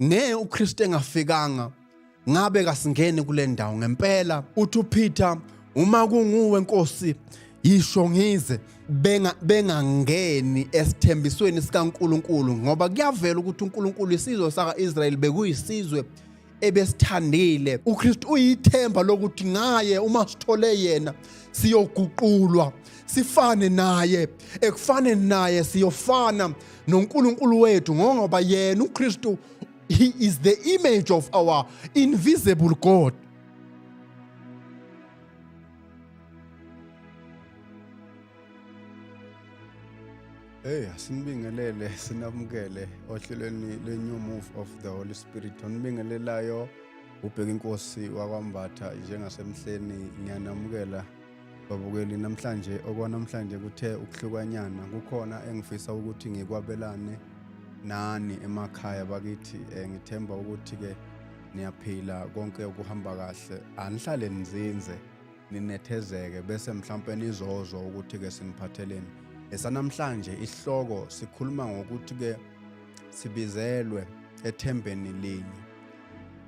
ngeke uKristu engafikanga ngabe kasingeni kule ndawo ngempela uthi uPeter uma kunguwe Nkosi yisho ngize benga bengangeni esithembisweni sikaNkuluNkulu ngoba kuyavela ukuthi uNkuluNkulu isizwe saka-Israyeli bekuyisizwe ebesithandile uKristu uyithemba lokuthi ngaye uma sithole yena siyoguqulwa sifane naye ekufane naye siyofana noNkulunkulu wethu ngoba yena uKristu he is the image of our invisible God Hey asinibingelele sinamukele ohlelweni le new move of the Holy Spirit onibingelelayo ubheka inkosi wakwambatha njengasemhleni ngiyanamukela babukeli namhlanje okwanamhlanje kuthe ukuhlukanyana kukhona engifisa ukuthi ngikwabelane nani emakhaya bakithi um ngithemba ukuthi-ke niyaphila konke okuhamba kahle anihlale nizinze ninethezeke bese mhlawumpe nizozwa ukuthi-ke siniphatheleni esanamhlanje isihloko sikhuluma ngokuthi-ke sibizelwe ethembeni linye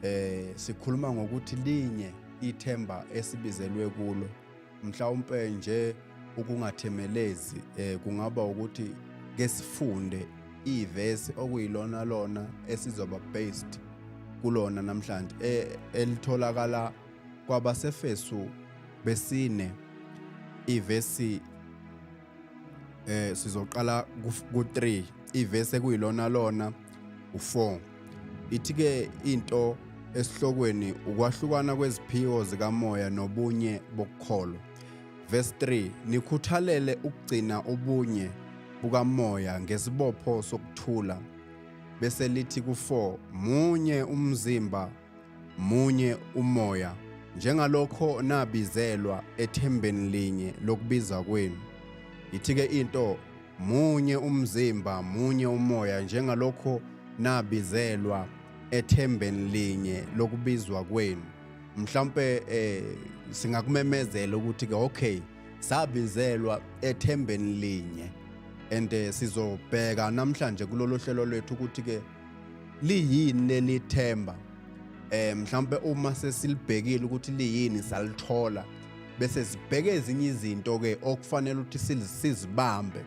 eh sikhuluma ngokuthi linye ithemba esibizelwe kulo mhlawumbe nje ukungathemelezi eh kungaba ukuthi ke sifunde ivesi okuyilona lona esizoba based kulona namhlanje eh, elitholakala kwabasefesu besine ivesi eh sizoqala ku3 ivese kuyilona lona u4 ithi ke into esihlokweni ukwahlukana kweziphiwo zikamoya nobunye bokukholo verse 3 nikhuthalele ukugcina ubunye bukamoya ngesibopho sokuthula bese lithi ku4 munye umzimba Munye umoya njengalokho nabizelwa ethembeni linye lokubiza kwenu. Yithike into munye umzimba munye umoya njengalokho nabizelwa ethembeni linye lokubizwa kwenu. Mhlawumbe eh singakumemezela ukuthi ke okay sabizelwa ethembeni linye and eh, sizobheka namhlanje kulolu hlelo lwethu ukuthi ke liyini leli themba eh mhlawumbe uma sesilibhekile ukuthi liyini salithola bese sibheke ezinye izinto ke okufanele ukuthi sizibambe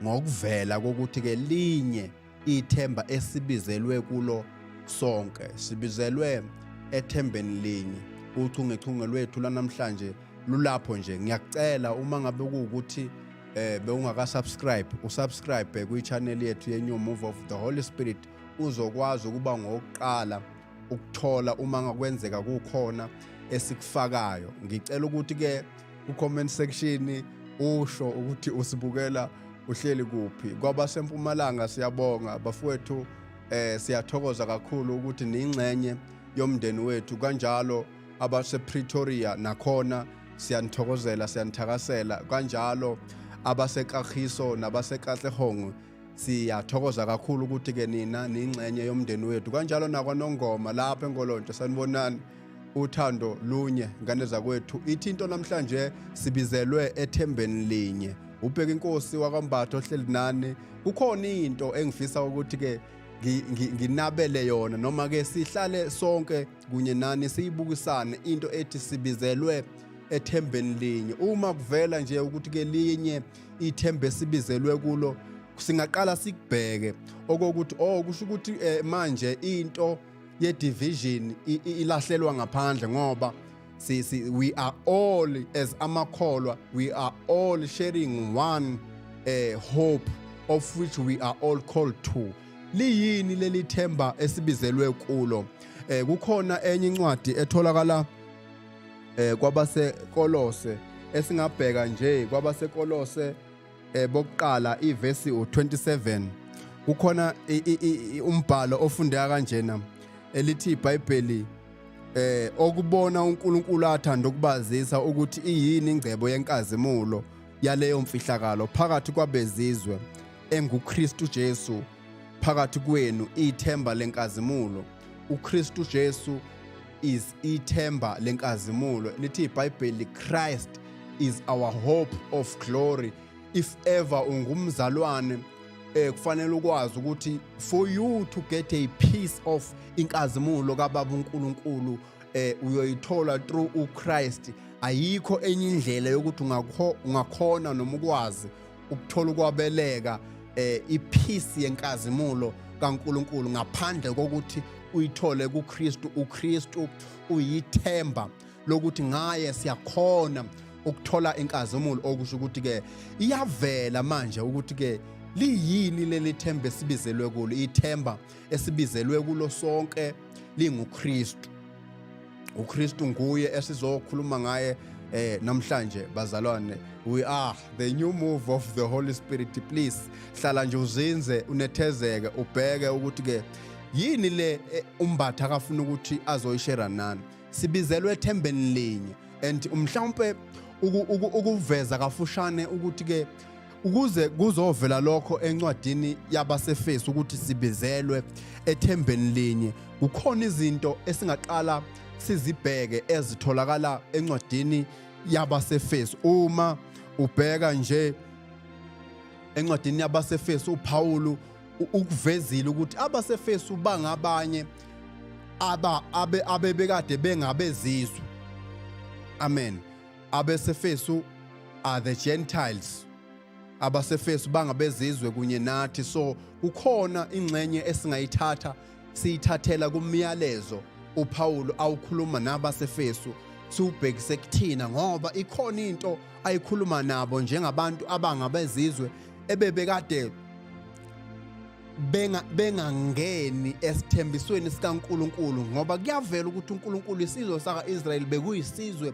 ngokuvela kokuthi ke linye ithemba esibizelwe kulo sonke sibizelwe ethembeni linye uchungechunge lwethu lanamhlanje lulapho nje ngiyakucela uma ngabe kuwukuthi eh bewungakasubscribe usubscribe kwi-channel yethu ye-new move of the holy spirit uzokwazi ukuba ngokuqala ukuthola uma ngakwenzeka kukhona esikufakayo ngicela ukuthi-ke ku-comment section usho ukuthi usibukela uhleli kuphi kwabasempumalanga siyabonga bafowethu eh siyathokoza kakhulu ukuthi ningxenye yomndeni wethu kanjalo abasePretoria nakhona siyanithokozela siyanithakasela kanjalo abaseKagiso nabaseKatlehong siyathokoza kakhulu ukuthi ke nina ningxenye yomndeni wethu kanjalo nakwanongoma lapha engolontshe sanibonani uthando lunye ngane zakwethu ithi into namhlanje sibizelwe ethembeni linye ubheka inkosi wakwambatha ohleli nani kukhona into engifisa ukuthi ke nginabele yona noma ke sihlale sonke kunye nani siyibukisane into ethi sibizelwe ethembeni linye uma kuvela nje ukuthi ke linye ithembe esibizelwe kulo singaqala sikubheke okokuthi oh kusho ukuthi eh, manje into ye division ilahlelwa ngaphandle ngoba si, si we are all as amakholwa we are all sharing one eh, hope of which we are all called to liyini leli themba esibizelwe kulo eh kukhona enye incwadi etholakala eh kwabasekolose esingabheka nje kwabasekolose eh bokuqala ivesi u27 kukhona umbhalo ofundeka kanjena elithi iBhayibheli eh okubona uNkulunkulu athanda ukubazisa ukuthi iyini ingcebo yenkazimulo yaleyo mfihlakalo phakathi kwabezizwe enguKristu Jesu phakathi kwenu ithemba lenkazimulo uKristu Jesu is ithemba lenkazimulo lithi iBhayibheli Christ is our hope of glory if ever ungumzalwane eh kufanele ukwazi ukuthi for you to get a piece of inkazimulo kaBaba uNkulunkulu eh uyoyithola through uChrist ayikho enye indlela yokuthi ungakhona noma ukwazi ukuthola ukwabeleka eh iphisi yenkazimulo kaNkuluNkulu ngaphandle kokuthi uyithole kuKristu uKristu uyithemba lokuthi ngaye siyakhona ukuthola inkazimulo okusho ukuthi ke iyavela manje ukuthi ke liyini leli themba esibizelwe kulo ithemba esibizelwe kulo sonke linguKristu uKristu nguye esizokhuluma ngaye eh namhlanje bazalwane we are the new move of the holy spirit please hlala nje uzinze unethezeke ubheke ukuthi ke yini le eh, umbatha akafuna ukuthi azoyishera nani sibizelwe ethembeni linye and umhlawumbe ukuveza kafushane ukuthi ke ukuze kuzovela lokho encwadini yabaseFesu ukuthi sibizelwe ethembeni linye kukhona izinto esingaqala sizibheke ezitholakala encwadini yabaseFesu uma ubheka nje encwadini yabaseFesu uPawulu ukuvezile ukuthi abaseFesu bangabanye aba abebekade bengabezizwe amen abesefesu are the gentiles abasefesu bangabezizwe kunye nathi so kukhona ingxenye esingayithatha siyithathela kumyalezo uPawulu awukhuluma nabasefesu siwubhekise kuthina ngoba ikhona into ayikhuluma nabo njengabantu abangabezizwe ebebekade benga bengangeni esithembisweni sikaNkuluNkulu ngoba kuyavela ukuthi uNkuluNkulu isizwe saka-Israyeli bekuyisizwe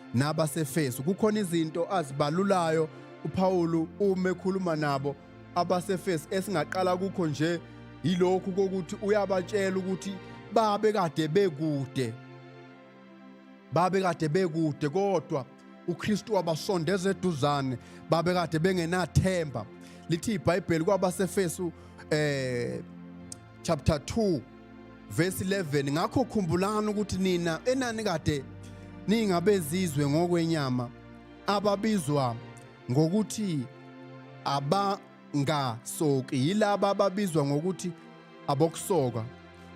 nabaseFesu. Kukhona izinto azibalulayo uPawulu uma ekhuluma nabo abaseFesu esingaqala kukho nje yilokhu kokuthi uyabatshela ukuthi babe kade bekude babe kade bekude kodwa uKristu wabasondeza eduzane babe kade bengenathemba lithi iBhayibheli kwabaseFesu eh chapter 2 verse 11 ngakho khumbulani ukuthi nina enani kade ningabezizwe ngokwenyama ababizwa ngokuthi abangasoki yilaba ababizwa ngokuthi abokusoka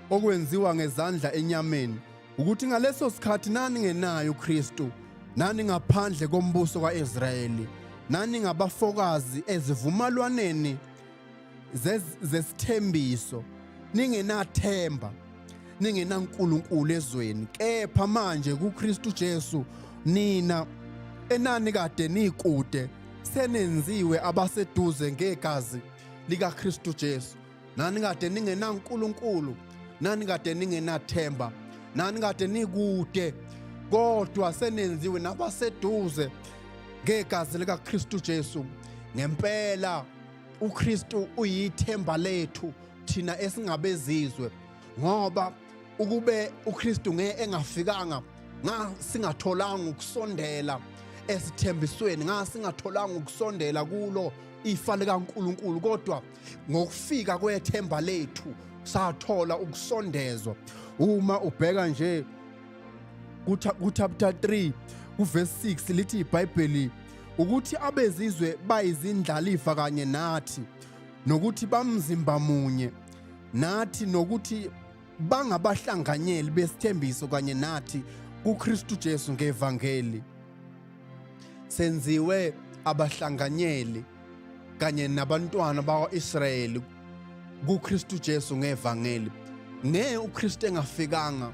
okwenziwa ngezandla enyameni ukuthi ngaleso sikhathi nani ngenayo uKristu nani ngaphandle kombuso kaIsrayeli nani ngabafokazi ezivumalwaneni zesithembiso ningenathemba ningenaNkulunkulu ezweni kepha manje kuKristu Jesu nina enani kade nikude senenziwe abaseduze ngegazi likaKristu Jesu nani kade ningenaNkulunkulu nani kade ningenathemba nani kade nikude kodwa senenziwe nabaseduze ngegazi likaKristu Jesu ngempela uKristu uyithemba lethu thina esingabezizwe ngoba ukube uKristu ngeke engafikanga ngasingatholanga ukusondela esithembisweni ngasingatholanga ukusondela kulo ifa likaNkuluNkulu kodwa ngokufika kwethemba lethu sathola ukusondezwa uma ubheka nje kuchapter 3 kuverse 6 lithi iBhayibheli ukuthi abezizwe bayizindlalifa kanye nathi nokuthi bamzimba munye nathi nokuthi bangabahlanganyeli besithembiso kanye nathi kuKristu Jesu ngevangeli senziwe abahlanganyeli kanye nabantwana bakwa-Israyeli kuKristu Jesu ngevangeli. Ne uKristu engafikanga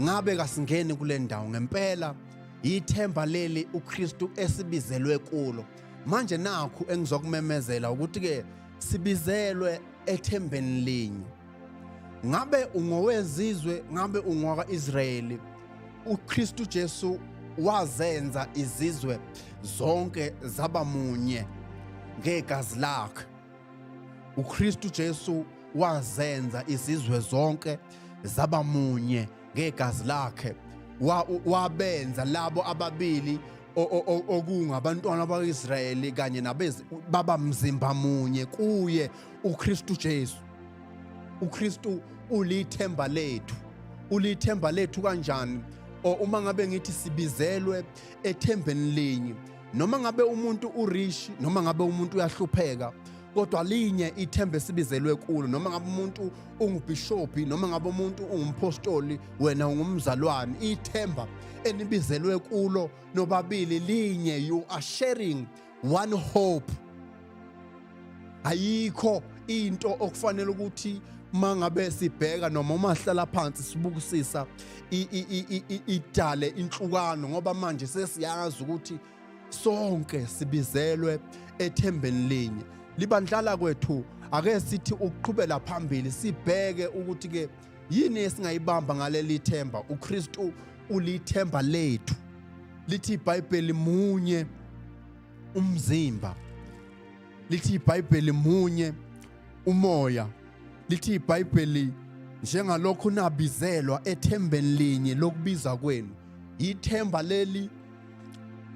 ngabe kasingeni kule ndawo ngempela yithemba leli uKristu esibizelwe kulo. Manje nakhu engizokumemezela ukuthi ke sibizelwe ethembeni linye. ngabe ungowezizwe ngabe ungowaka-israyeli ukristu jesu wazenza izizwe zonke zaba munye ngegazi lakhe ukristu jesu wazenza izizwe zonke zaba munye ngegazi lakhe wabenza labo ababili okungabantwana bakwa-israyeli kanye baba mzimba munye kuye ukristu jesu uKristu ulithemba lethu ulithemba lethu kanjani or uma ngabe ngithi sibizelwe ethembeni linye noma ngabe umuntu urich noma ngabe umuntu uyahlupheka kodwa linye ithemba esibizelwe kulo noma ngabe umuntu ungubhishophi noma ngabe umuntu ungumpostoli wena ungumzalwane ithemba enibizelwe kulo nobabili linye you are sharing one hope ayikho into okufanele ukuthi mangabe sibheka noma uma sihlala phansi sibukisisa idale inhlukano ngoba manje sesiyazi ukuthi sonke sibizelwe ethembeni linye libandlala kwethu ake sithi ukuqhubela phambili sibheke ukuthi ke Yini esingayibamba ngaleli themba? UKristu ulithemba lethu. Lithi iBhayibheli munye umzimba. Lithi iBhayibheli munye umoya. Lithi iBhayibheli njengalokhu nabizelwa ethembeni linye lokubiza kwenu. Yithemba leli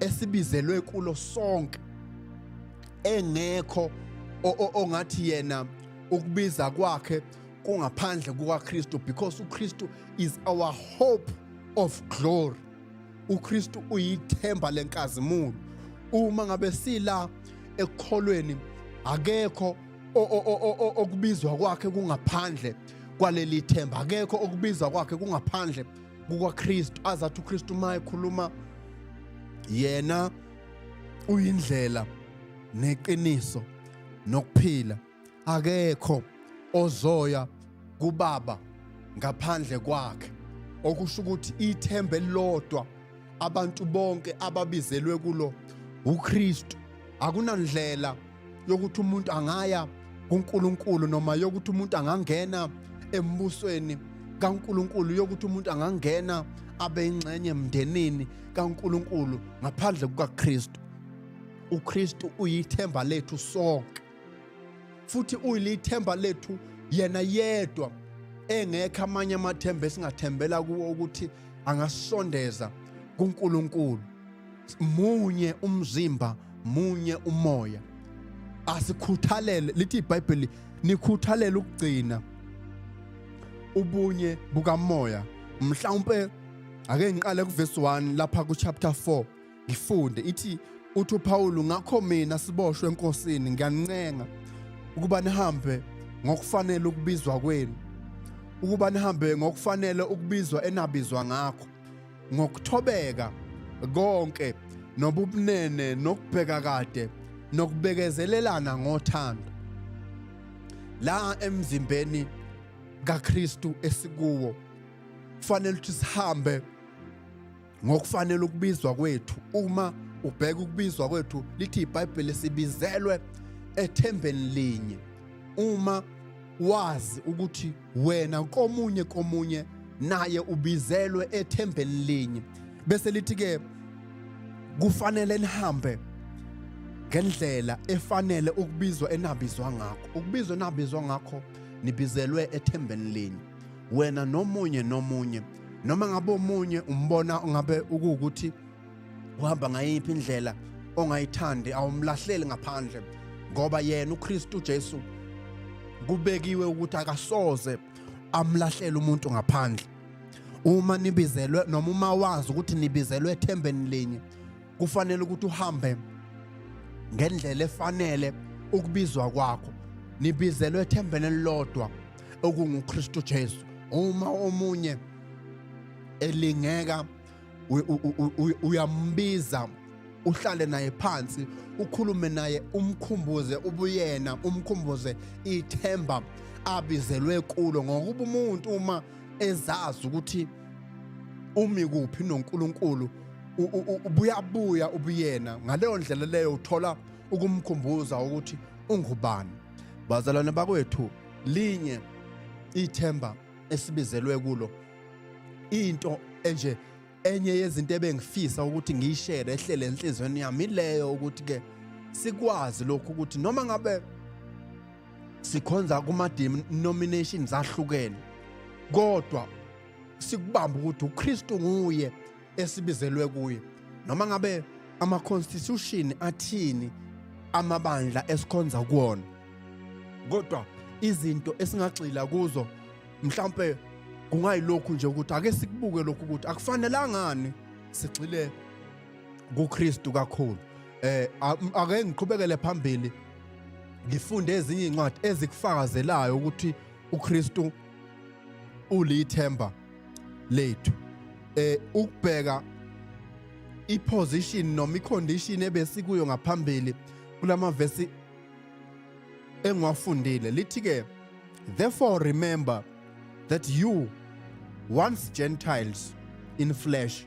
esibizelwe kulo sonke engekho ongathi yena ukubiza kwakhe kungaphandle kukaKristu because uKristu is our hope of glory uKristu uyithemba lenkazimulo uma ngabe sila ekukholweni akekho okubizwa kwakhe kungaphandle kwaleli themba akekho okubizwa kwakhe kungaphandle kukaKristu azathi uKristu uma ekhuluma yena uyindlela neqiniso nokuphila akekho ozoya kubaba ngaphandle kwakhe okusho ukuthi ithemba elilodwa abantu bonke ababizelwe kulo uKristu akunandlela yokuthi umuntu angaya kuNkulunkulu noma yokuthi umuntu angangena embusweni kaNkulunkulu yokuthi umuntu angangena abe ingxenye emndenini kaNkulunkulu ngaphandle kukaKristu uKristu uyithemba lethu sonke futhi uyilithemba lethu yena yedwa engekho amanye amathemba esingathembela kuwo ukuthi angasondeza kuNkulunkulu munye umzimba munye umoya asikhuthalele lithi iBhayibheli nikhuthalele ukugcina ubunye bukamoya mhlawumbe ake ngiqale kuvesi 1 lapha ku chapter 4 Ngifunde ithi uthi uPawulu ngakho mina siboshwe enkosini ngiyanincenga ukuba nihambe ngokufanele ukubizwa kwenu ukuba nihambe ngokufanele ukubizwa enabizwa ngakho ngokuthobeka konke nobubunene nokubheka kade nokubekezelelana ngothando la emzimbeni kaKristu esikuwo kufanele ukuthi sihambe ngokufanele ukubizwa kwethu uma ubheka ukubizwa kwethu lithi iBhayibheli sibizelwe ethembeni linye uma wazi ukuthi wena komunye komunye naye ubizelwe ethembeni linye bese lithi ke kufanele nihambe ngendlela efanele ukubizwa enabizwa ngakho ukubizwa enabizwa ngakho nibizelwe ethembeni linye wena nomunye nomunye noma ngabe omunye umbona ngabe ukuwukuthi uhamba ngayiphi indlela ongayithandi awumlahleli ngaphandle ngoba yena uKristu Jesu kubekiwe ukuthi akasoze amlahlele umuntu ngaphandle uma nibizelwe noma uma wazi ukuthi nibizelwe ethembeni linye kufanele ukuthi uhambe ngendlela efanele ukubizwa kwakho nibizelwe ethembeni elilodwa okunguKristu Jesu uma omunye elingeka uyambiza uhlale naye phansi ukhulume naye umkhumbuze ubuyena umkhumbuze ithemba abizelwe kulo ngokuba umuntu uma ezazi ukuthi umi kuphi noNkulunkulu ubuyabuya ubuyena ngaleyo ndlela leyo uthola ukumkhumbuza ukuthi ungubani bazalwane bakwethu linye ithemba esibizelwe kulo into enje enye yezinto ebengifisa ukuthi ngiyishere ehlele enhlizweni yami ileyo ukuthi ke sikwazi lokhu ukuthi noma ngabe sikhonza kuma denominations ahlukene kodwa sikubamba ukuthi uKristu nguye esibizelwe kuye noma ngabe ama constitution athini amabandla esikhonza kuona kodwa izinto esingagxila kuzo mhlambe kungayilokhu nje ukuthi ake sikubuke lokhu ukuthi akufanelangani sigxile kuKristu kakhulu eh ake ngiqhubekele phambili ngifunde ezinye incwadi ezikufakazelayo ukuthi uKristu ulithemba lethu eh ukubheka iposition noma icondition ebesikuyo ngaphambili kulamavesi engiwafundile lithi ke therefore remember that you once gentiles in flesh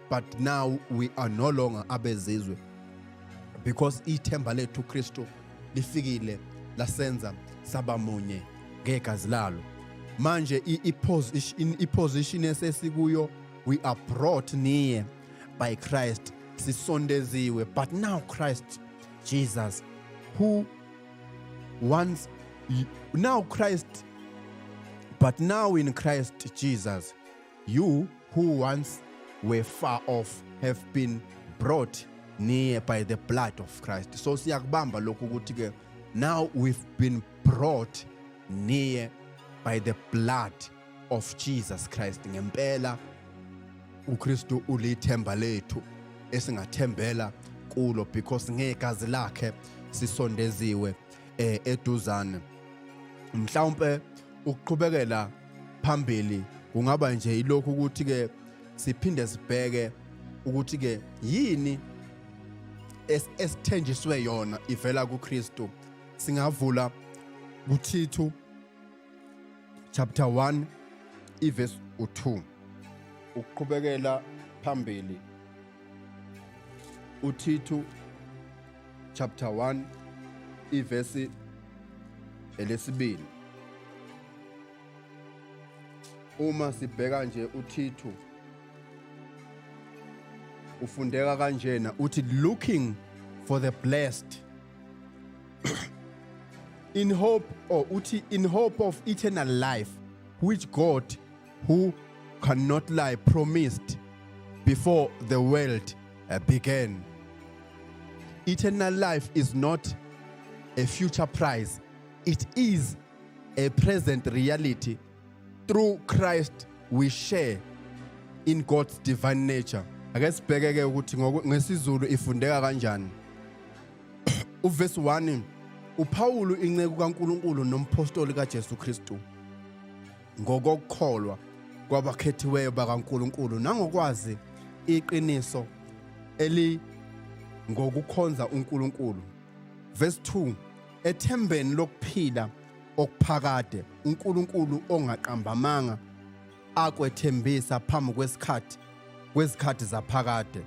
but now we are no longer abezizwe because ithemba lethu Kristu lifikile lasenza saba munye ngegazi lalo manje iposition esesikuyo we are brought near by Christ sisondeziwe but now Christ Jesus who once now Christ but now in Christ Jesus You who once were far off have been brought near by the blood of Christ. So siyakubamba lokhu ukuthi ke now we've been brought near by the blood of Jesus Christ. Ngempela uKristu ulithemba lethu esingathembela kulo because ngegazi lakhe sisondeziwe eh eduzane mhlawumbe ukuqhubekela phambili kungaba nje ilokhu ukuthi ke siphinde sibheke ukuthi ke yini esithenjiswe yona ivela kuKristu singavula kuThithu chapter 1 iverse u2 ukuqhubekela phambili uThithu chapter 1 ivesi elesibili uma sibheka nje uThithu ufundeka kanjena uthi looking for the blessed in hope or uthi in hope of eternal life which God who cannot lie promised before the world uh, began. Eternal life is not a future prize, it is a present reality. Through Christ, we share in God's divine nature. Ake sibheke ke ukuthi ngesizulu ifundeka kanjani. Uverse 1 uPawulu inceku kaNkuluNkulu nomphostoli kaJesu Kristu. ngokokukholwa kwabakhethiweyo bakaNkulunkulu nangokwazi iqiniso eli ngokukhonza uNkulunkulu verse 2 ethembeni lokuphila okuphakade uNkulunkulu ongaqambamanga akwethembisa phambi kwesikhathi kwezikhathi zaphakade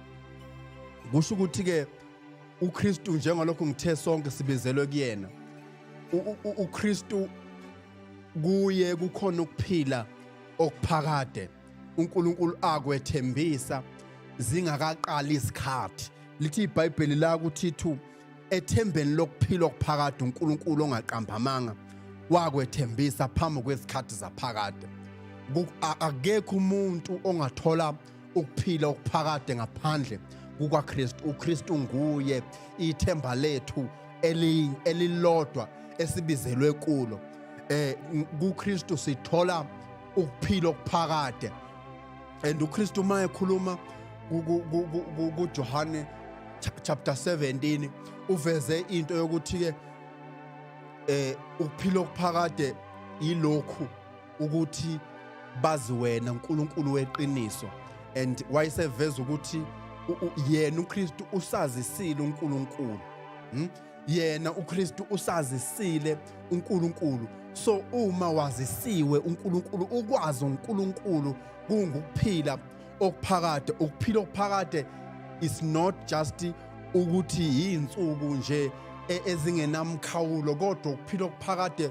kusho ukuthi ke uKristu njengalokho ngithe sonke sibizelwe kuyena uKristu kuye kukhona ukuphila okuphakade uNkulunkulu akwethembisa zingakaqali isikhathi lithi iBhayibheli la ukuthi thu ethembeni lokuphila okuphakade uNkulunkulu ongaqambamanga wakwethembisa phambi kwesikhathi zaphakade akekho umuntu ongathola ukuphila okuphakade ngaphandle kukaKristu uKristu nguye ithemba lethu elilodwa esibizelwe kulo eh kuKristu sithola ukuphila okuphakade and uKristu uma ekhuluma kuJohane chapter 17 uveze into yokuthi ke eh ukuphila okuphakade yilokhu ukuthi bazi wena uNkulunkulu weqiniso and wayeseveza ukuthi yena uKristu usazisile uNkulunkulu hmm? yena uKristu usazisile uNkulunkulu so uma wazisiwe uNkulunkulu ukwazi uNkulunkulu kungukuphila okuphakade ukuphila okuphakade is not just ukuthi yinsuku nje e, ezingenamkhawulo kodwa ukuphila okuphakade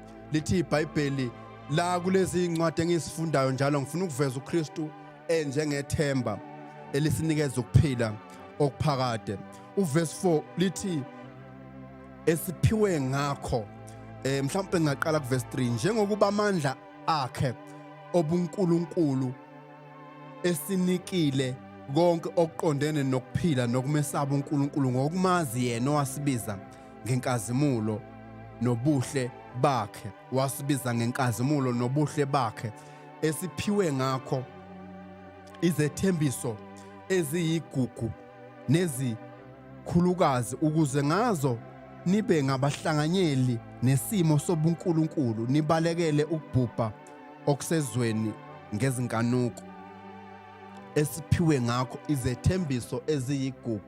lithi iBhayibheli la kulezi incwadi engisifundayo njalo ngifuna ukuveza uKristu enjengethemba elisinikeza ukuphila okuphakade uverse 4 lithi esiphiwe ngakho eh mhlawumbe ngaqala kuverse 3 njengokuba amandla akhe obuNkulunkulu esinikile konke okuqondene nokuphila nokumesaba uNkulunkulu ngokumazi yena owasibiza ngenkazimulo nobuhle bakhe wasibiza ngenkazimulo nobuhle bakhe esiphiwe ngakho izethembiso eziyigugu nezikhulukazi ukuze ngazo nibe ngabahlanganyeli nesimo sobunkulunkulu nibalekele ukubhubha okusezweni ngezinkanuko esiphiwe ngakho izethembiso eziyigugu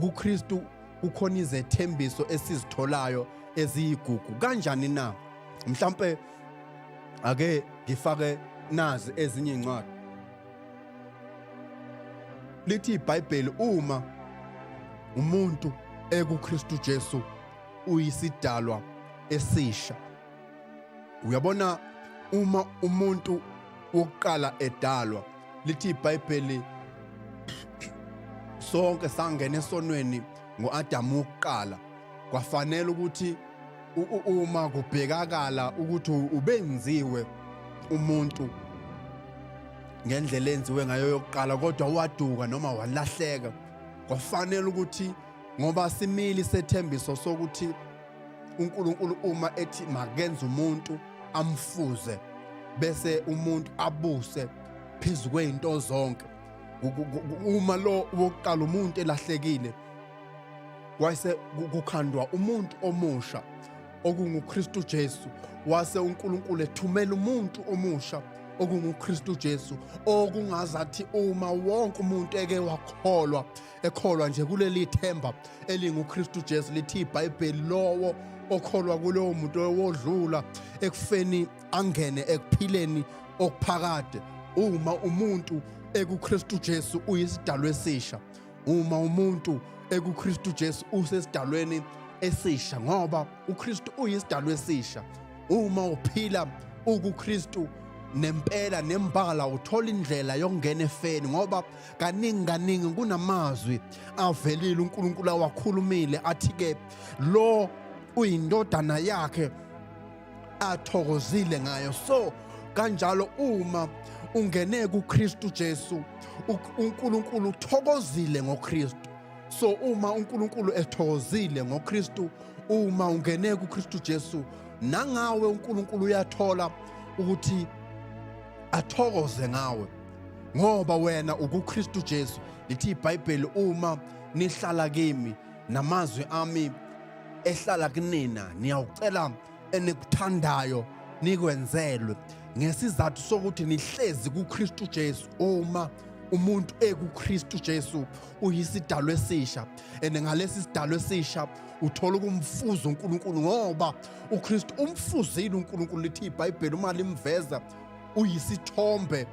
kuKristu kukhona izethembiso esizitholayo eziyigugu kanjani na mhlambe ake ngifake nazi ezinye incwadi lithi iBhayibheli uma umuntu ekuKristu Jesu uyisidalwa esisha uyabona uma umuntu wokuqala edalwa lithi iBhayibheli sonke sangena esonweni ngoAdamu wokuqala kwafanele ukuthi uma kubhekakala ukuthi ubenziwe umuntu ngendlela enziwe ngayo yokuqala kodwa waduka noma walahleka kwafanele ukuthi ngoba simili sethembiso sokuthi uNkulunkulu uma ethi makenze umuntu amfuze bese umuntu abuse phezu kwezinto zonke uma lo wokuqala umuntu elahlekile wase kukhandwa umuntu omusha okunguKristu Jesu wase uNkulunkulu ethumela umuntu omusha okunguKristu Jesu okungazathi uma wonke umuntu eke wakholwa ekholwa nje kuleli themba elinguKristu Jesu lithi iBhayibheli lowo okholwa kulowo muntu owodlula ekufeni angene ekuphileni okuphakade uma umuntu ekuKristu Jesu uyisidalwa esisha uma umuntu ekuKristu Jesu usesidalweni esisha ngoba uKristu uyisidalwa esisha uma uphila ukuKristu nempela nembala uthola indlela yokungena efeni ngoba kaningi kaningi kunamazwi avelile uNkulunkulu awakhulumile athi ke lo uyindodana yakhe athokozile ngayo so kanjalo uma ungene kuKristu Jesu uNkulunkulu uthokozile ngoKristu so uma uNkulunkulu ethokozile ngoKristu uma ungene kuKristu Jesu nangawe uNkulunkulu uyathola ukuthi athokoze ngawe ngoba wena ukuKristu Jesu lithi iBhayibheli uma nihlala kimi namazwi ami ehlala kunina niyawucela enikuthandayo nikwenzelwe ngesizathu sokuthi nihlezi kuKristu Jesu uma umuntu ekuKristu Jesu uyisidalwa esisha and ngalesi sidalwa esisha uthola ukumfuza uNkulunkulu ngoba uKristu umfuzile uNkulunkulu lithi iBhayibheli uma limveza uyisithombe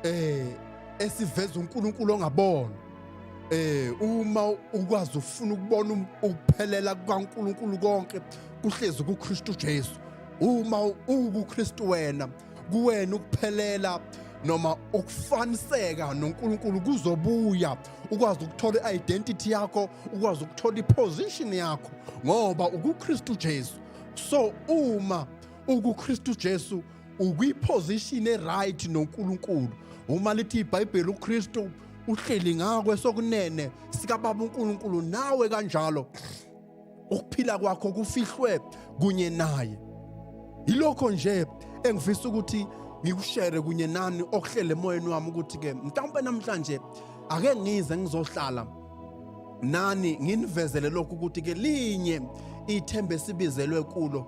eh esiveza uNkulunkulu ongabona eh uma ukwazi ufuna ukubona um, ukuphelela kukaNkulunkulu konke kuhlezi kuKristu Jesu uma uwuKristu wena kuwena ukuphelela noma ukufaniseka noNkulunkulu kuzobuya ukwazi ukuthola i-identity yakho ukwazi ukuthola i-position yakho ngoba ukuKristu Jesu so uma ukuKristu Jesu ukwiposition eright noNkulunkulu uma lithi iBhayibheli uKristu uhleli ngakwe sokunene sikababa uNkulunkulu nawe kanjalo ukuphila kwakho kufihlwe kunye naye yilokho nje engifisa ukuthi ngikushere kunye nani okuhlele emoyeni wami ukuthi ke mhlawumbe namhlanje ake ngize ngizohlala nani nginivezele lokhu ukuthi ke linye ithemba esibizelwe kulo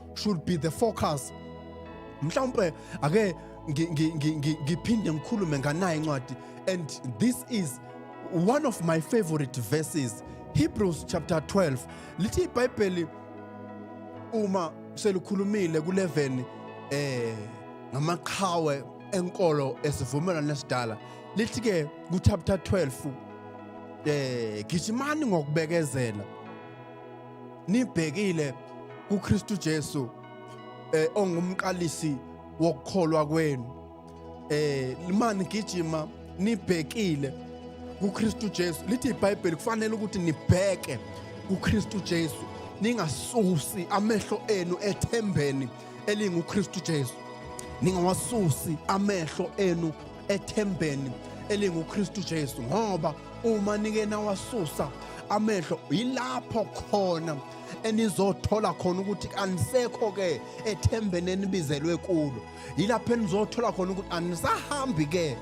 should be the focus mhlawumbe ake ngiphinde ngikhulume nganayo incwadi and this is one of my favorite verses hebrews chapter 12 lithi ibhayibheli uma selikhulumile kuleveni eh ngamaqhawe enkolo esivumelwano esidala lithi ke ku chapter 12 eh gijimani ngokubekezela nibhekile kuKristu Jesu eh ongumqalisi wokukholwa kwenu eh mani gijima nibhekile kuKristu Jesu lithi iBhayibheli kufanele ukuthi nibheke kuKristu Jesu ningasusi amehlo enu ethembeni elinguKristu Jesu ningawasusi amehlo enu ethembeni elinguKristu Jesu ngoba uma nike nawasusa amehlo yilapho khona enizothola khona ukuthi anisekho ke ethembeni enibizelwe kulo yilapho enizothola khona ukuthi anisahambi ke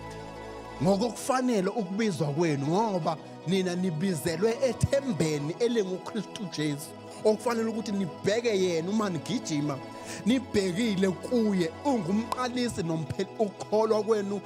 ngokokufanele ukubizwa kwenu ngoba nina nibizelwe ethembeni elinguKristu Jesu okufanele ukuthi nibheke yena uma nigijima nibhekile kuye ungumqalisi nompheli ukholwa kwenu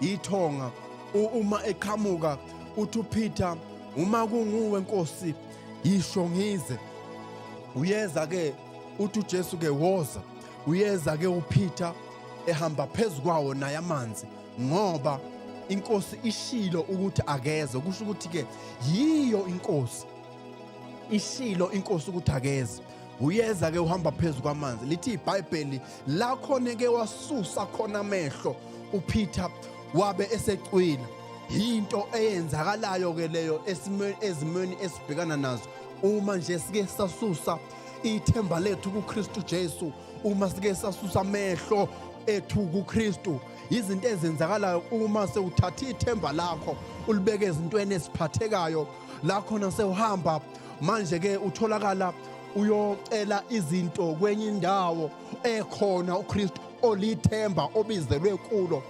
ithonga uma eqhamuka uthi uPeter uma kunguwe Nkosi yisho ngize uyeza ke uthi uJesu ke woza uyeza ke uPeter ehamba phezu kwawo naye amanzi ngoba inkosi ishilo ukuthi akeze kusho ukuthi ke yiyo inkosi ishilo inkosi ukuthi akeze uyeza ke uhamba phezu kwamanzi lithi ibhayibheli la khona ke wasusa khona amehlo upeter wabe esecwila yinto eyenzakalayo ke leyo ezimweni esibhekana nazo uma nje sike sasusa ithemba lethu kuKristu Jesu uma sike sasusa amehlo ethu kuKristu izinto ezenzakalayo uma sewuthatha ithemba lakho ulibeke ezintweni eziphathekayo la khona sewuhamba manje ke utholakala uyocela izinto kwenye indawo ekhona uKristu olithemba obizelwe kulo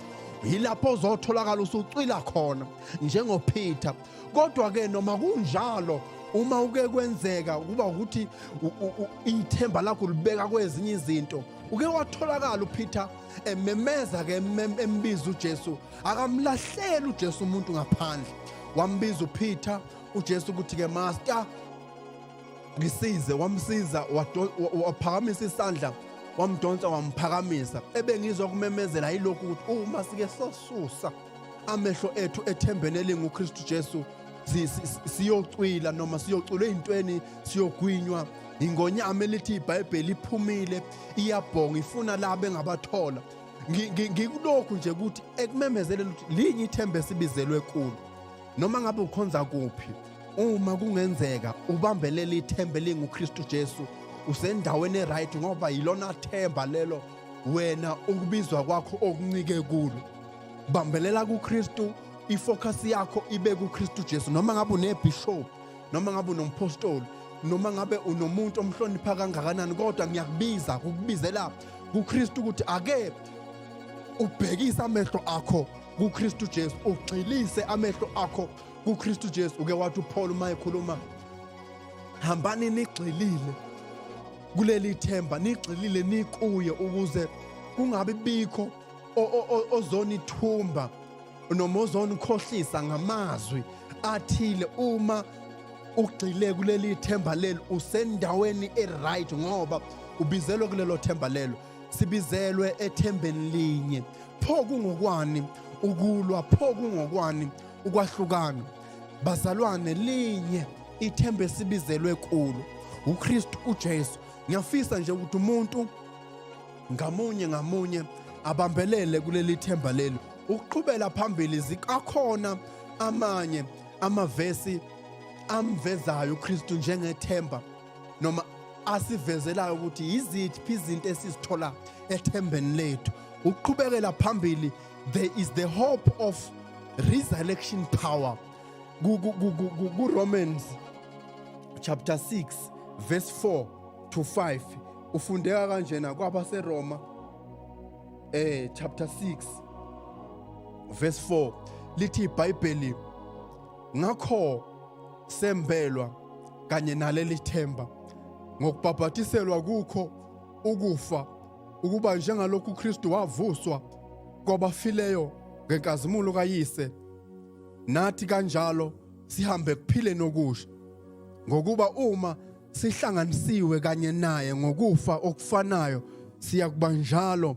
yilapho ozotholakala usucwila khona njengoPeter kodwa ke noma kunjalo uma uke kwenzeka kuba ukuthi ithemba lakho libeka kwezinye izinto uke watholakala uPeter ememeza ke embiza uJesu akamlahleli uJesu umuntu ngaphandle wambiza uPeter uJesu ukuthi ke master ngisize wamsiza waphakamisa isandla wamdonsa wamphakamisa ebengizwa kumemezela yilokhu ukuthi uma sike sosusa amehlo ethu ethembeni elinguKristu Jesu siyocwila noma siyocula ezintweni siyogwinywa ingonyama elithi iBhayibheli iphumile iyabhonga ifuna la bengabathola ngikulokhu nje ukuthi ekumemezeleni ukuthi linye ithemba esibizelwe kulo noma ngabe ukhonza kuphi uma kungenzeka ubambelela ithemba elinguKristu Jesu usendaweni eright ngoba yilona themba lelo wena ukubizwa kwakho okuncike kulo bambelela kuKristu ifocus yakho ibe kuKristu Jesu noma ngabe unebishop noma ngabe unompostoli noma ngabe unomuntu omhlonipha kangakanani kodwa ngiyakubiza kukubizela kuKristu ukuthi ake ubhekisa amehlo akho kuKristu Jesu ugxilise amehlo akho kuKristu Jesu uke wathi uPaul uma ekhuluma hambani nigxilile kuleli themba nigxilile nikuye ukuze kungabi bikho ozonithumba noma ozonikhohlisa ngamazwi athile uma ugxile kuleli themba lelo usendaweni e-right ngoba ubizelwe kulelo themba lelo sibizelwe ethembeni linye pho kungokwani ukulwa pho kungokwani ukwahlukana bazalwane linye ithemba esibizelwe kulo uKristu uJesu ngiyafisa nje ukuthi umuntu ngamunye ngamunye abambelele kuleli themba leli ukuqhubela phambili zikakhona amanye amavesi amvezayo uKristu njengethemba noma asivezelayo ukuthi yiziphi izinto esizithola ethembeni lethu ukuqhubekela phambili there is the hope of resurrection power kuromans chapter 6 verse 4 to 5 ufundeka kanjena kwabaseroma eh chapter 6 verse 4 lithi ibhayibheli ngakho sembelwa kanye naleli themba ngokubhabhatiselwa kukho ukufa ukuba njengalokhu uKristu wavuswa kwabafileyo ngenkazimulo kayise nathi kanjalo sihambe kuphileni okusha ngokuba uma sihlanganisiwe kanye naye ngokufa okufanayo siya kuba njalo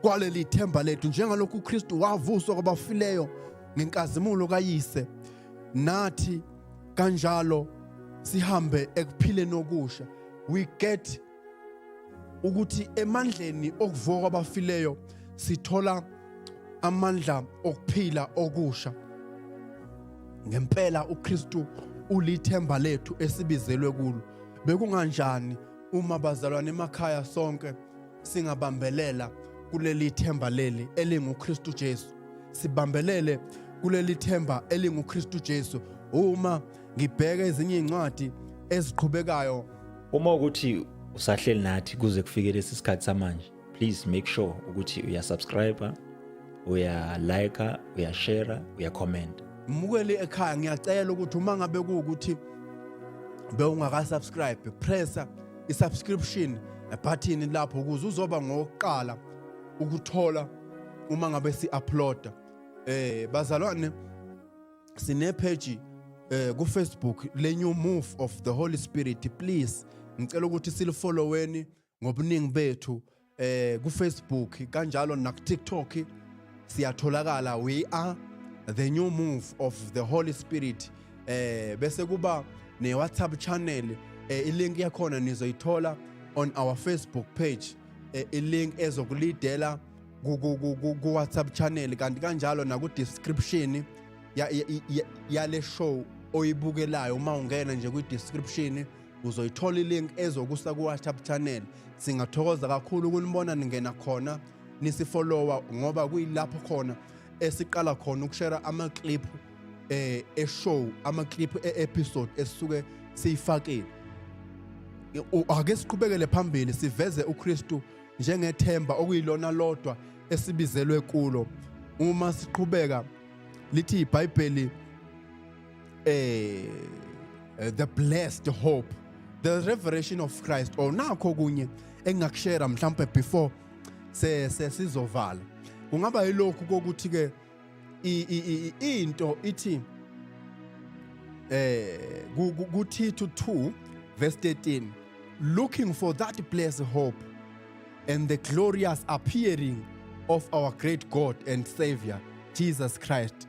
kwaleli themba lethu njengalokhu uKristu wavuswa kwabafileyo ngenkazimulo kayise nathi kanjalo sihambe ekuphileni okusha we get ukuthi emandleni okuvuka kwabafileyo sithola amandla okuphila okusha ngempela uKristu ulithemba lethu esibizelwe kulo bekunganjani uma bazalwane emakhaya sonke singabambelela kuleli themba leli elinguKristu Jesu sibambelele kuleli themba elinguKristu Jesu uma ngibheka ezinye izincwadi eziqhubekayo uma ukuthi usahleli nathi kuze kufike lesi sikhathi samanje please make sure ukuthi uyasubscribe uyalike uyashare uyacomment mukeli ekhaya ngiyacela ukuthi uma ngabe kuwukuthi bewungakasubscribe pressa i-subscription button lapho ukuze uzoba ngokuqala ukuthola uma ngabe si-uploada eh bazalwane sine-page eh ku-facebook le-new move of the holy spirit please ngicela ukuthi silifolloweni ngobuningi bethu eh ku Facebook kanjalo naku TikTok siyatholakala we are the new move of the Holy Spirit eh bese kuba ne WhatsApp channel eh, ilink yakhona nizoyithola on our Facebook page eh, ilink ezokulidela ku WhatsApp channel kanti kanjalo naku description yale show oyibukelayo uma ungena nje kwi description ya, ya, ya uzoyithola ilink ezokusa ku-whatsapp channel singathokoza kakhulu ukunibona ningena khona nisifolowa ngoba kuyilapho khona esiqala khona ukushera ama-clip eh eshow ama-clip e-episode esisuke siyifakile ake siqhubekele phambili siveze uKristu njengethemba okuyilona lodwa esibizelwe kulo uma siqhubeka lithi iBhayibheli eh the blessed hope the revelation of Christ or nakho kunye engakushare mhlambe before se sesizovala kungaba yilokhu kokuthi ke into ithi eh kuThithu 2 verse 13 looking for that blessed hope and the glorious appearing of our great God and Savior Jesus Christ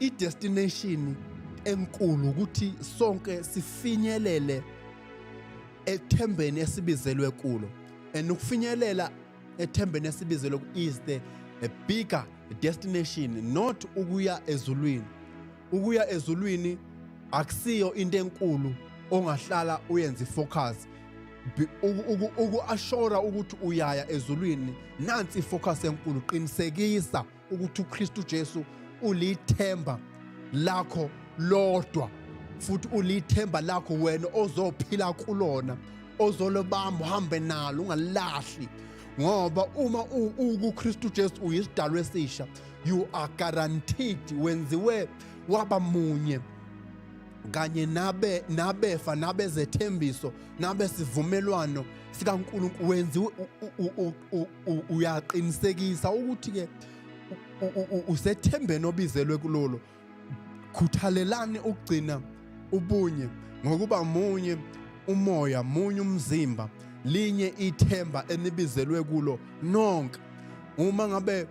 idestination enkulu ukuthi sonke sifinyelele ethembeni esibizelwe kulo and ukufinyelela ethembeni esibizelwe is the a bigger destination not ukuya ezulwini ukuya ezulwini akusiyo into enkulu ongahlala uyenze focus uku-ashora ukuthi uyaya ezulwini nansi ifocus enkulu qinisekisa ukuthi uKristu Jesu ulithemba lakho lodwa futhi ulithemba lakho wena ozophila kulona ozolobamba uhambe nalo ungalahli ngoba uma ukuKristu Jesu uyisidalo esisha you are guaranteed wenziwe waba munye kanye nabe nabefa nabezethembiso nabesivumelwano sikaNkulunkulu wenziwe uyaqinisekisa ukuthi ke usethembeni obizelwe kulolo khuthalelani ukugcina ubunye ngokuba munye umoya munye umzimba linye ithemba enibizelwe kulo nonke uma ngabe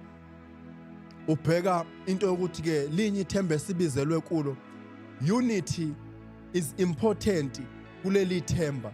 ubheka into yokuthi ke linye ithemba esibizelwe kulo unity is important kuleli themba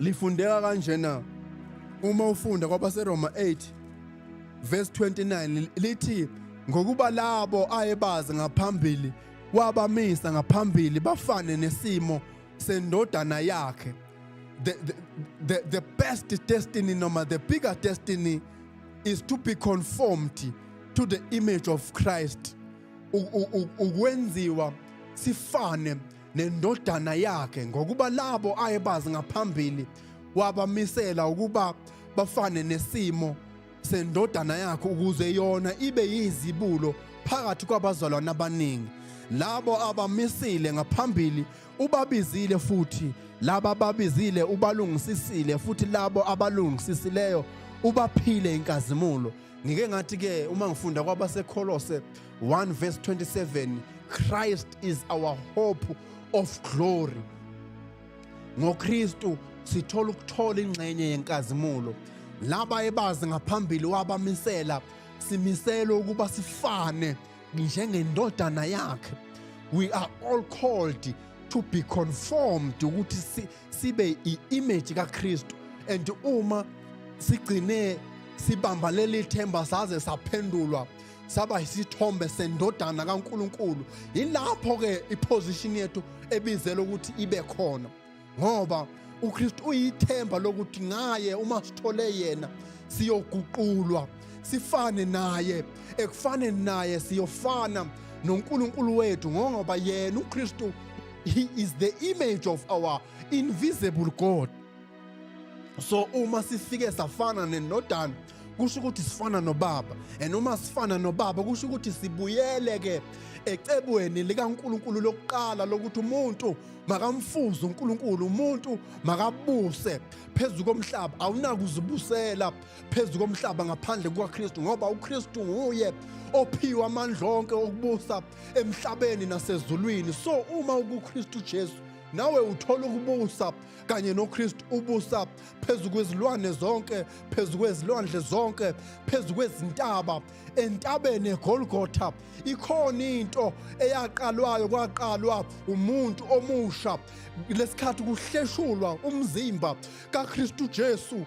Lifundeka kanjena uma ufunda kwabaseRoma 8 verse 29 lithi ngokuba labo ayebazi ngaphambili wabamisa ngaphambili bafane nesimo sendodana yakhe the, the, the, the best destiny noma the bigger destiny is to be conformed to the image of Christ ukwenziwa sifane nendodana yakhe ngokuba labo ayebazi ngaphambili wabamisela ukuba bafane nesimo sendodana yakhe ukuze yona ibe yizibulo phakathi kwabazalwane abaningi labo abamisile ngaphambili ubabizile futhi laba ababizile ubalungisisile futhi labo abalungisisileyo ubaphile inkazimulo ngike ngathi ke uma ngifunda kwabaseKholose 1 verse 27 Christ is our hope of glory ngoKristu sithola ukuthola ingxenye yenkazimulo laba ebazi ngaphambili wabamisela simiselwe ukuba sifane njengendodana yakhe we are all called to be conformed ukuthi sibe i-image kaKristu and uma sigcine sibamba leli themba saze saphendulwa saba isithombe sendodana kaNkuluNkulu yilapho ke iposition yethu ebizela ukuthi ibe khona ngoba uKristu uyithemba lokuthi ngaye uma sithole yena siyoguqulwa sifane naye ekufane naye siyofana noNkulunkulu wethu ngoba yena uKristu he is the image of our invisible god so uma sifike safana nenodana kusho ukuthi sifana nobaba and uma sifana nobaba kusho ukuthi sibuyele ke ecebweni likaNkuluNkulu lokuqala lokuthi umuntu makamfuze uNkuluNkulu umuntu makabuse phezu komhlaba awunakuzibusela phezu komhlaba ngaphandle kukaKristu ngoba uKristu nguye ophiwa amandla onke okubusa emhlabeni nasezulwini so uma ukuKristu Jesu nawe uthola ukubusa kanye noKristu ubusa phezu kwezilwane zonke phezu kwezilwandle zonke phezu kwezintaba entabeni eGolgotha ikhona into eyaqalwayo kwaqalwa umuntu omusha lesikhathi kuhleshulwa umzimba kaKristu Jesu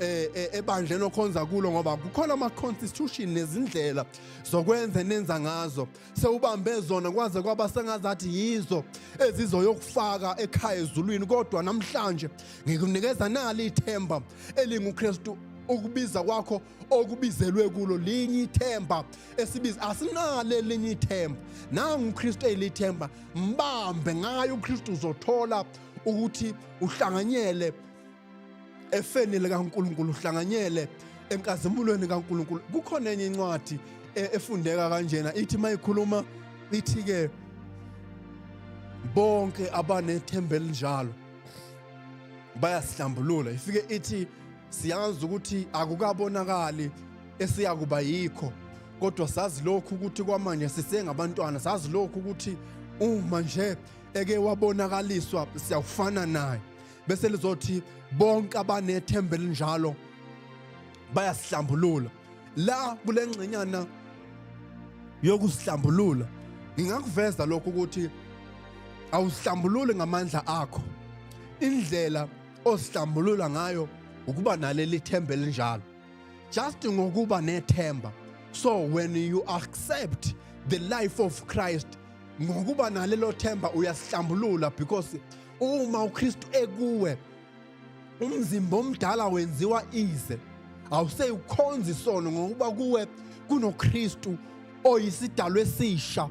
eh, eh ebandleni okhonza kulo ngoba kukhona ama constitution nezindlela zokwenza nenza ngazo sewubambe zona kwaze kwaba sengazathi yizo ezizoyokufaka ekhaya ezulwini kodwa namhlanje ngikunikeza nali ithemba elinguKristu ukubiza kwakho okubizelwe kulo linye ithemba esibiza asinalo elinye ithemba nangu uKristu elithemba mbambe ngayo uKristu uzothola ukuthi uhlanganyele efeni likaNkuluNkulu uhlanganyele enkazimulweni kaNkuluNkulu kukhona enye incwadi e, efundeka kanjena ithi mayikhuluma ithi ke bonke abanethembe linjalo bayasihlambulula ifike ithi siyazi ukuthi akukabonakali esiyakuba yikho kodwa sazi lokhu ukuthi kwamanje sisengabantwana sazi lokhu ukuthi uma nje eke wabonakaliswa siyawufana naye bese lizothi bonke abanethemba elinjalo bayasihlambulula la kule ngxenyana yokusihlambulula ngingakuveza lokho ukuthi awusihlambululi ngamandla akho indlela osihlambulula ngayo ukuba naleli themba elinjalo just ngokuba nethemba so when you accept the life of Christ ngokuba nalelo themba uyasihlambulula because uma uKristu ekuwe umzimba omdala wenziwa ize awuseyukhonza isono ngokuba kuwe kunoKristu oyisidalo esisha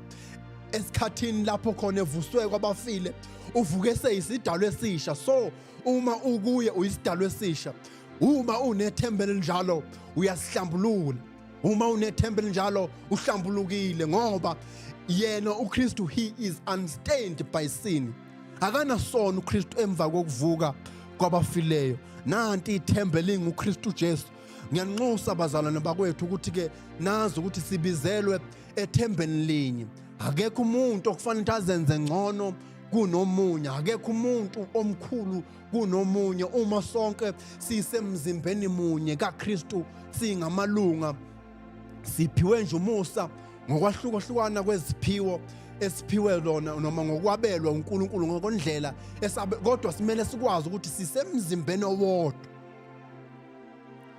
esikhathini lapho khona evuswe kwabafile uvuke seyisidalo esisha so uma ukuye uyisidalo esisha uma unethemba elinjalo uyasihlambulula uma unethemba elinjalo uhlambulukile ngoba yena uKristu he is unstained by sin akanasono uKristu emva kokuvuka kwabafileyo nanti ithemba elinguKristu Jesu ngiyanxusa abazalwane bakwethu ukuthi ke nazi ukuthi sibizelwe ethembeni linye akekho umuntu okufanele ukuthi azenze ngcono kunomunye akekho umuntu omkhulu kunomunye uma sonke sisemzimbeni munye kaKristu singamalunga siphiwe nje umusa ngokwahlukahlukana kweziphiwo esiphiwe lona noma ngokwabelwa uNkulunkulu ngokondlela kodwa simele sikwazi ukuthi sisemzimbeni owodwa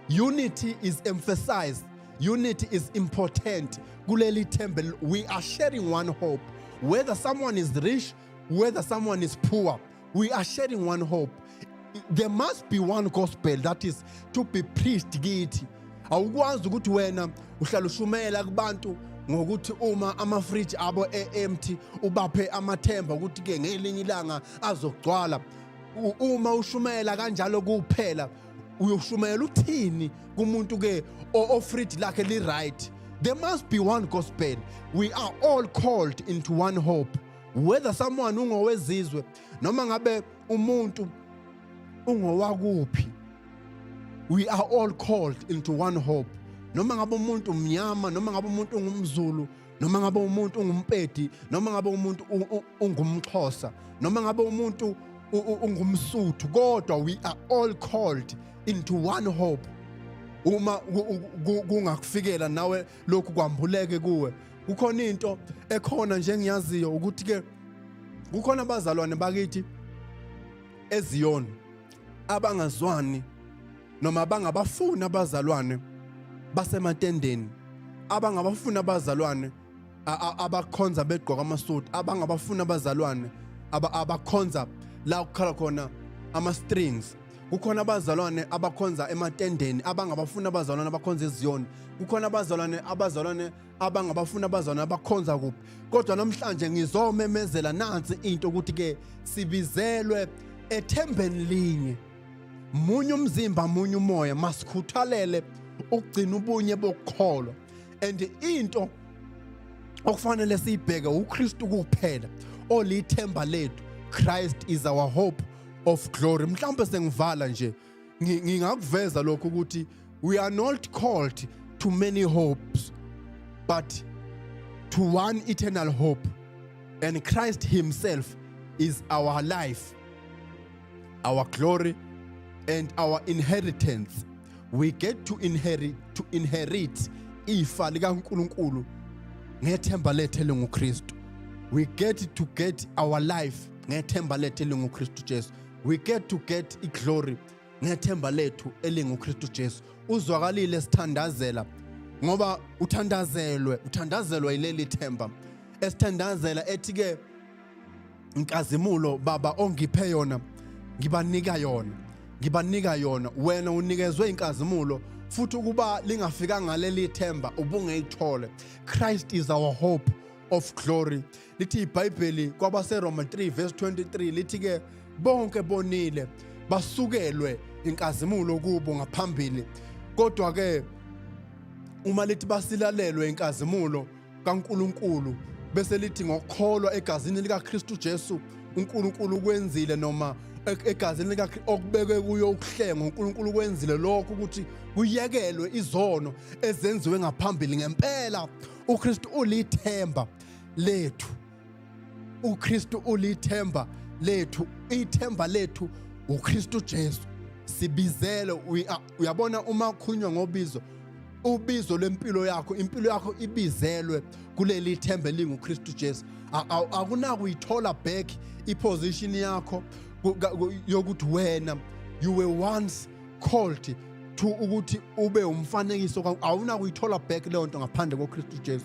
unity is emphasized unity is important kuleli thembe we are sharing one hope whether someone is rich whether someone is poor we are sharing one hope there must be one gospel that is to be preached kithi awukwazi ukuthi wena uhlala ushumela kubantu ngokuthi uma amafridge abo e-empty ubaphe amathemba ukuthi ke ngelinye ilanga azogcwala uma ushumela kanjalo kuphela uyoshumayela uthini kumuntu ke ofridge lakhe li right there must be one gospel we are all called into one hope whether someone ungowezizwe noma ngabe umuntu ungowakuphi we are all called into one hope noma ngabe umuntu umnyama noma ngabe umuntu ungumzulu noma ngabe umuntu ungumpedi noma ngabe umuntu ungumxhosa noma ngabe umuntu ungumsuthu kodwa we are all called into one hope uma kungakufikela nawe lokhu kwambuleke kuwe kukhona into ekhona nje engiyaziyo ukuthi ke kukhona abazalwane bakithi eziyona abangazwani noma abangabafuni abazalwane basematendeni abangabafuni abazalwane abakhonza begqoka amasudu abangabafuni abazalwane abakhonza la kukhala khona ama-strings kukhona abazalwane abakhonza ematendeni abangabafuni abazalwane abakhonza eziyoni kukhona abazalwane abazalwane abangabafuni abazalwane abakhonza kuphi kodwa namhlanje ngizomemezela nansi into ukuthi-ke sibizelwe ethembeni linye munye umzimba munye umoya masikhuthalele ukugcina ubunye bokukholwa and into okufanele siyibheke uKristu kuphela olithemba lethu Christ is our hope of glory mhlawumbe sengivala nje ngingakuveza lokho ukuthi we are not called to many hopes but to one eternal hope and Christ himself is our life our glory and our inheritance we get to inherit to inherit ifa likaNkuluNkulu ngethemba lethe lenguKristu we get to get our life ngethemba lethu elinguKristu Jesu we get to get iglory ngethemba lethu elinguKristu Jesu uzwakalile sithandazela ngoba uthandazelwe uthandazelwa yileli themba esithandazela ethi ke inkazimulo baba ongiphe yona ngibanika yona ngibanika yona wena unikezwe inkazimulo futhi ukuba lingafika ngaleli themba ubungeyithole Christ is our hope of glory lithi ibhayibheli kwabaseroma 3 verse 23 lithi-ke bonke bonile basukelwe inkazimulo kubo ngaphambili kodwa-ke uma lithi basilalelwe inkazimulo kaNkuluNkulu bese lithi ngokukholwa egazini likaKristu Jesu uNkulunkulu ukwenzile noma e-, egazini lika okubekwe kuyo ukuhlenga uNkulunkulu kwenzile lokho ukuthi kuyekelwe izono ezenziwe ngaphambili ngempela uKristu ulithemba lethu uKristu ulithemba lethu ithemba lethu uKristu Jesu sibizele uyabona uma ukhulunywa ngobizo ubizo lwempilo yakho impilo yakho ibizelwe kuleli themba elinguKristu Jesu akunakuyithola back iposition yakho yokuthi wena you were once called to ukuthi ube umfanekiso awunakuyithola back leyo nto ngaphandle koKristu Jesu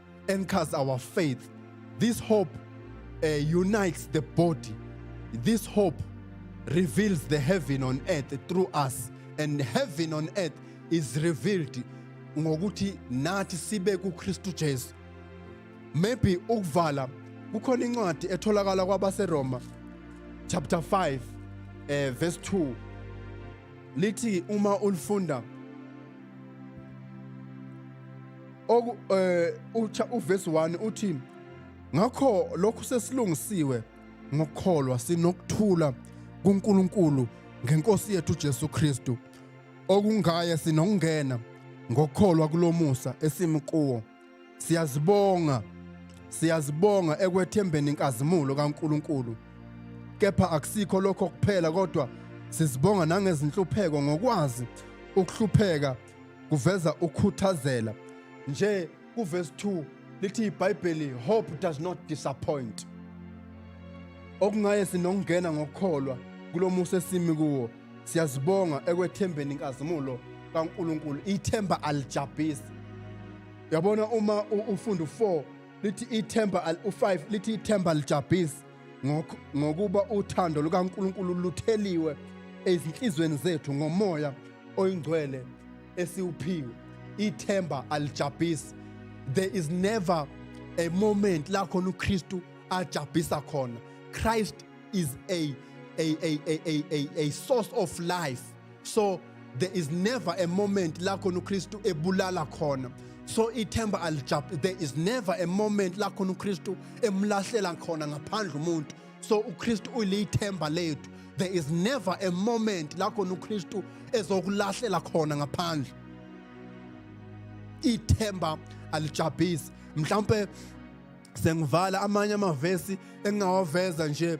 anchors our faith. This hope uh, unites the body. This hope reveals the heaven on earth through us. And heaven on earth is revealed ngokuthi nathi sibe kuKristu Jesu. Maybe ukuvala kukhona incwadi etholakala kwabaseRoma chapter 5 eh verse 2 lithi uma ulifunda oku eh ucha uverse 1 uthi ngakho lokhu sesilungisiwe ngokukholwa sinokuthula kuNkulunkulu ngenkosi yethu Jesu Kristu okungaye sinokungena ngokukholwa kulomusa esimi kuwo siyazibonga siyazibonga ekwethembeni inkazimulo kaNkuluNkulu kepha akusikho lokho kuphela kodwa sizibonga nangezinhlupheko ngokwazi ukuhlupheka kuveza ukhuthazela nje kuvesi 2 lithi ibhayibheli hope does not disappoint okungaye sinokungena ngokukholwa kulo musa esimi kuwo siyazibonga ekwethembeni inkazimulo kaNkuluNkulu ithemba alijabhisi yabona uma ufunda u4 lithi ithemba u5 lithi ithemba alijabhisi ngokuba uthando lukaNkulunkulu lutheliwe ezinhlizweni zethu ngomoya oyingcwele esiwuphiwe ithemba alijabhisi there is never a moment la khona uKristu ajabhisa khona Christ is a a a a a, a source of life so there is never a moment la khona uKristu ebulala khona so ithemba alijab there is never a moment la khona uKristu emlahlela khona ngaphandle umuntu so uKristu uyilithemba lethu there is never a moment la khona uKristu ezokulahlela khona ngaphandle ithemba alijabhisi mhlawumbe sengivala amanye amavesi engingawaveza nje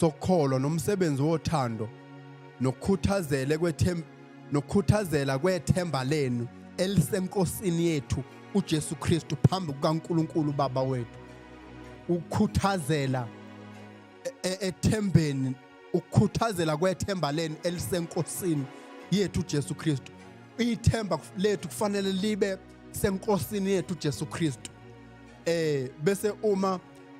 sokholo nomsebenzi wothando nokukhuthazele kwethem nokukhuthazela kwethemba lenu elisenkosini yethu uJesu Kristu phambi kukaNkuluNkulu Baba wethu ukukhuthazela e, e, ethembeni ukukhuthazela kwethemba lenu elisenkosini yethu uJesu Kristu ithemba lethu kufanele libe senkosini yethu uJesu Kristu eh bese uma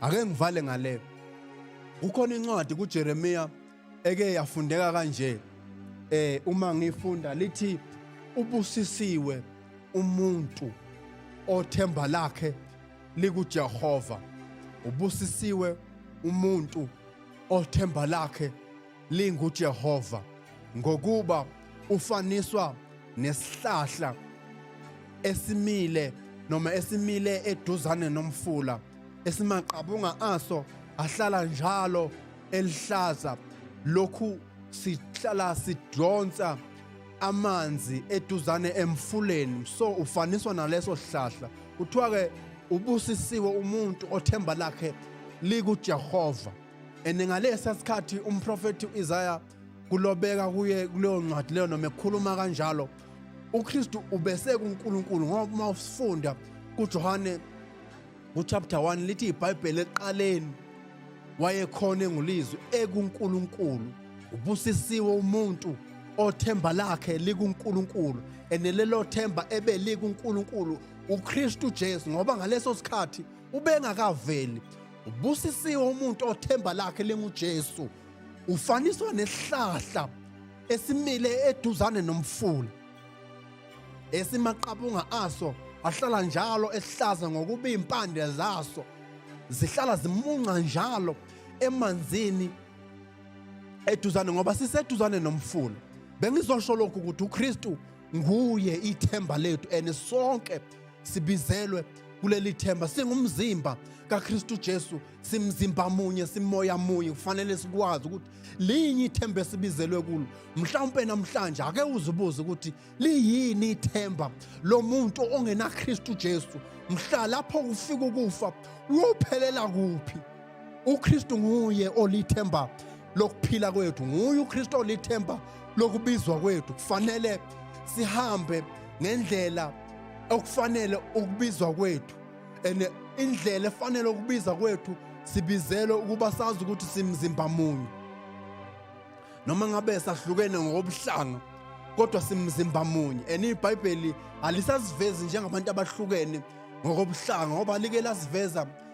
ake ngivale ngale kukhona incwadi kuJeremiya eke yafundeka kanje eh uma ngifunda lithi ubusisiwe umuntu othemba lakhe likuJehova ubusisiwe umuntu othemba lakhe linguJehova ngokuba ufaniswa nesihlahla esimile noma esimile eduzane nomfula esimaqabunga aso ahlala njalo elihlaza lokhu sihlala sidonsa amanzi eduzane emfuleni so ufaniswa naleso sihlahla kuthiwa ke ubusisiwe umuntu othemba lakhe likuJehova and ngalesa sikhathi umprofethi u-isaya kulobeka kuye kuleyo ncwadi leyo noma ekhuluma kanjalo ukristu ubesekunkulunkulu ngoba uma usifunda kujohane kuchapter 1 lithi ibhayibheli eqaleni wayekhona engulizwi ekunkulunkulu ubusisiwe umuntu othemba lakhe likuNkulunkulu enelelo themba ebe likuNkulunkulu uKristu Jesu ngoba ngaleso sikhathi ubengakaveli Ubusisiwe umuntu othemba lakhe linguJesu. Ufaniswa nesihlahla esimile eduzane nomfula. Esimaqabunga aso ahlala njalo esihlaza ngokuba impande zaso zihlala zimunca njalo emanzini eduzane ngoba siseduzane nomfula. Bengizosho lokhu ukuthi uKristu nguye ithemba lethu and sonke sibizelwe kuleli themba singumzimba kaKristu Jesu simzimba munye simoya munye kufanele sikwazi ukuthi linye ithemba esibizelwe kulo mhlawumbe namhlanje ake uzibuze ukuthi liyini ithemba lomuntu ongena Kristu Jesu mhla lapho ufika ukufa uyophelela kuphi uKristu nguye olithemba lokuphila kwethu nguye uKristu olithemba lokubizwa kwethu kufanele sihambe ngendlela okufanele ukubizwa kwethu and indlela efanele ukubiza kwethu sibizelwe ukuba sazi ukuthi simzimba munye noma ngabe sahlukene ngokobuhlanga kodwa simzimba munye and ibhayibheli alisasivezi njengabantu abahlukene ngokobuhlanga ngoba like lasiveza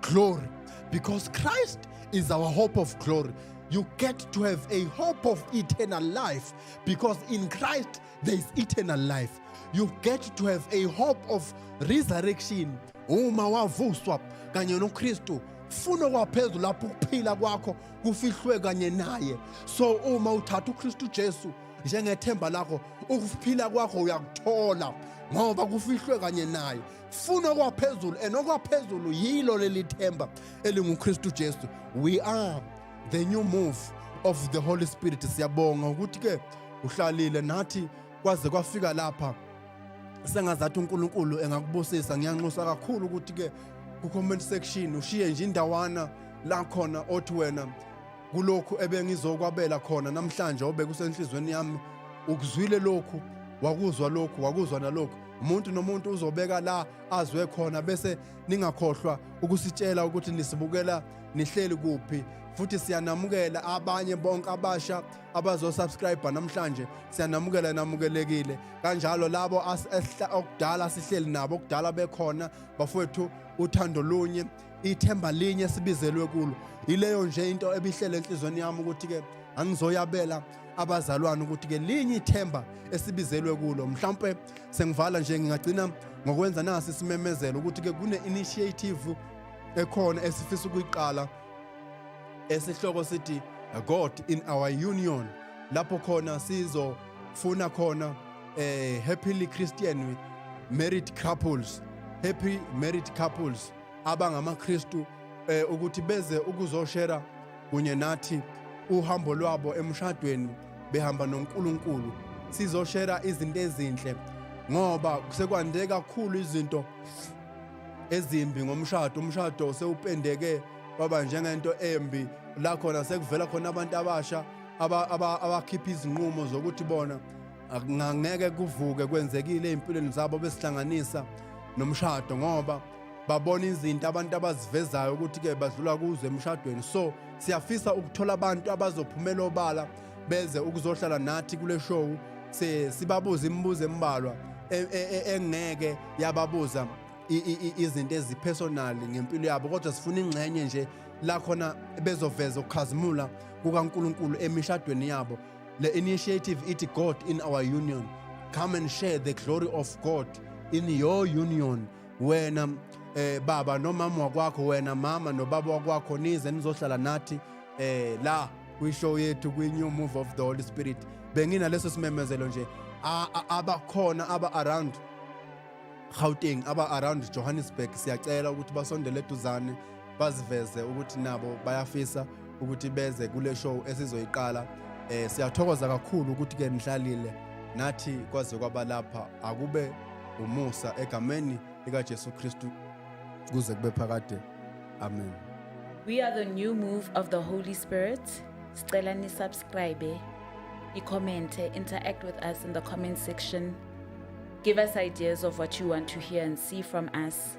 glory because Christ is our hope of glory. You get to have a hope of eternal life because in Christ there is eternal life. You get to have a hope of resurrection. Uma wavuswa kanye noKristu funa kwaphezulu lapho ukuphila kwakho kufihlwe kanye naye. So uma uthatha uKristu Jesu njengethemba lakho ukuphila kwakho uyakuthola ngoba kufihlwe kanye naye funa okwaphezulu and okwaphezulu yilo leli themba elinguKristu Jesu we are the new move of the Holy Spirit siyabonga ukuthi ke uhlalile nathi kwaze kwafika lapha sengazathi uNkulunkulu engakubusisa ngiyanxusa kakhulu ukuthi ke ku comment section ushiye nje indawana la khona othi wena kulokhu ebengizokwabela khona namhlanje obekusenhlizweni yami ukuzwile lokhu wakuzwa lokhu wakuzwa nalokhu umuntu nomuntu uzobeka la azwe khona bese ningakhohlwa ukusitshela ukuthi nisibukela nihleli kuphi futhi siyanamukela abanye bonke abasha abazosubscribe namhlanje siyanamukela namukelekile kanjalo labo okudala sihleli nabo okudala bekhona bafowethu uthando lunye ithemba linye sibizelwe kulo yileyo nje into ebihlele enhlizweni yami ukuthi-ke angizoyabela abazalwane ukuthi-ke linye ithemba esibizelwe kulo mhlawumpe sengivala nje ngingagcina ngokwenza nasi isimemezelo ukuthi-ke kune-initiative ekhona esifisa ukuyiqala esihloko sithi god in our union lapho khona sizofuna khona eh happily christian married couples happy married couples abangamaKristu eh ukuthi beze ukuzoshera kunye nathi uhambo lwabo emshadweni behamba noNkulunkulu sizoshera izinto ezinhle ngoba kusekwande kakhulu izinto ezimbi ngomshado umshado usewupendeke waba njengento embi la khona sekuvela khona abantu abasha abakhipha izinqumo zokuthi bona ngangeke kuvuke kwenzekile ezimpilweni zabo besihlanganisa nomshado ngoba babona izinto abantu abazivezayo ukuthi-ke badlula kuzo emshadweni so siyafisa ukuthola abantu abazophumela obala beze ukuzohlala nathi kule show sibabuze imibuzo embalwa e, e, e, engeke yababuza izinto ezipersonal ngempilo yabo kodwa sifuna ingxenye nje la khona bezoveza ukukhazimula kukaNkuluNkulu emishadweni yabo le initiative ithi God in our union come and share the glory of God in your union wena eh baba nomama wakwakho wena mama nobaba wakwakho nize nizohlala nathi eh la kwishow yethu kwi-new move of the holy spirit benginaleso simemezelo nje abakhona aba-around gauteng aba-around johannesburg siyacela ukuthi basondele eduzane baziveze ukuthi nabo bayafisa ukuthi beze kule show esizoyiqala eh siyathokoza kakhulu ukuthi ke nihlalile nathi kwaze kwaba lapha akube umusa egameni lika Jesu Kristu kuze kube phakade amen we are the new move of the holy spirit sicela ni subscribe i comment interact with us in the comment section give us ideas of what you want to hear and see from us